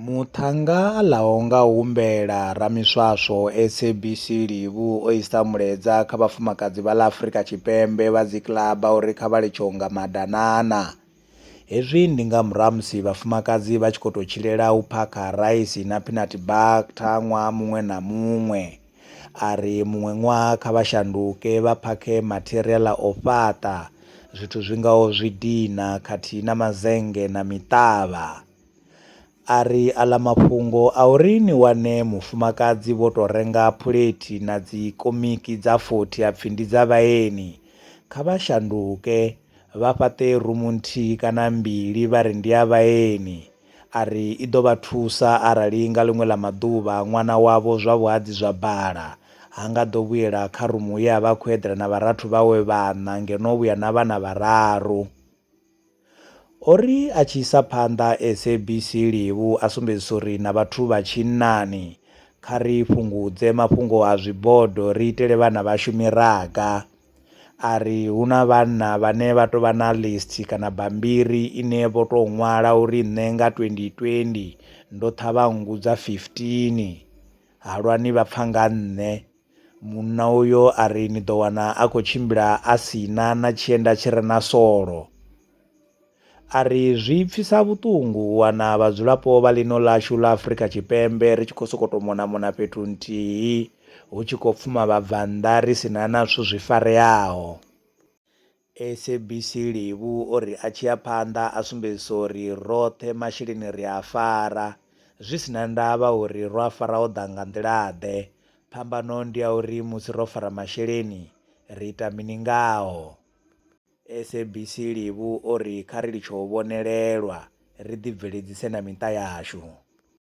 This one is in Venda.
Muṱhannga ḽa ho nga humbela ramiswaswo SABC Livhu o isa mulaedza kha vhafumakadzi vha ḽa Afrika Tshipembe vha dzikiḽaba uri kha vha litshe u nga madanana. Hezwi ndi nga murahu ha musi vhafumakadzi vha tshi khou tou tshilela u phakha raisi na peanut butter ṅwaha muṅwe na muṅwe. A ri muṅwe ṅwaha kha vha shanduke vha phakhe matheriaḽa o fhaṱa, zwithu zwi ngaho zwidina khathihi na mazennge na miṱavha. A ri, Aḽa mafhungo a uri ni wane mufumakadzi vho tou renga phulethi na dzikomiki dza 40 a pfi ndi dza vhaeni, kha vha shanduke vha fhaṱe rumu nthihi kana mbili vha ri ndi ya vhaeni. A ri, I ḓo vha thusa arali nga ḽiṅwe ḽa maḓuvha ṅwana wavho zwa vhuhadzi zwa bala, ha nga ḓo vhuela kha rumu ye a vha a khou eḓela na vharathu vhawe vhaṋa ngeno o vhuya na vhana vhararu. O ri a tshi isa phanḓa SABC Livu a sumbedzisa uri na vhathu vha tshinnani kha ri fhungudze mafhungo a zwibodo ri itele vhana vhashu miraga. A ri hu na vhanna vhane vha tou vha na list kana bambiri ine vho tou ṅwala uri nṋe nga 2020 ndo ṱhavha nngu dza 15, halwani vha pfa nga nṋe. Munna uyo a ri, Ni ḓo wana a khou tshimbila a si na na tshienda tshi re na solo. A ri, Zwi pfisa vhuṱungu u wana vhadzulapo vha ḽino ḽashu ḽa Afrika Tshipembe ri tshi khou sokou tou mona-mona fhethu nthihi hu tshi khou pfuma vhabvannḓa ri si na na zwithu zwi fareaho. SABC Levhu o ri a tshi ya phanḓa a sumbedzisa uri roṱhe masheleni ri a fara zwi si na ndavha uri ro a fara o ḓa nga nḓila-ḓe, phambano ndi ya uri musi ro fara masheleni ri ita mini ngao. SABC Levhu o ri kha ri litshe u vhonelelwa ri ḓibveledzise na miṱa yashu.